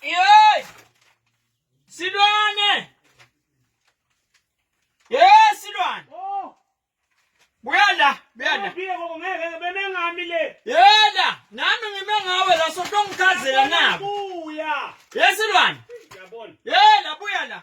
Yey! Silwane! Yey silwane! Oh! Buya la, buya la. Ngeke ngoba ngeke beme ngami le. Yela, nami ngime ngawe la sotongichazela nabo. Buya. Yesilwane. Yabona. Yela buya la.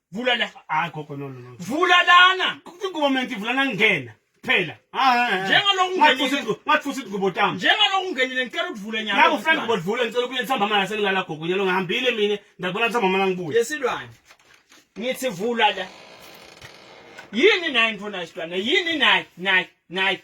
vula la hayi gogo no no no vula lana ingomenti vula nangena phela njengaloku ungenile ngathi futhi ingubo tami njengaloku ungenile ngicela ukuvule nyaka ngaku frank ngo vula ngicela ukuye nsamba mama sengilala gogo nyalo ngihambile mina ndabona nsamba mama ngibuye yesilwane ngithi vula la yini naye mfuna isilwane yini naye naye naye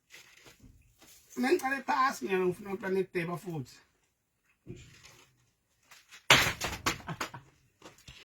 Mina ngiqale phasi mina ngifuna ukuplana ideba futhi.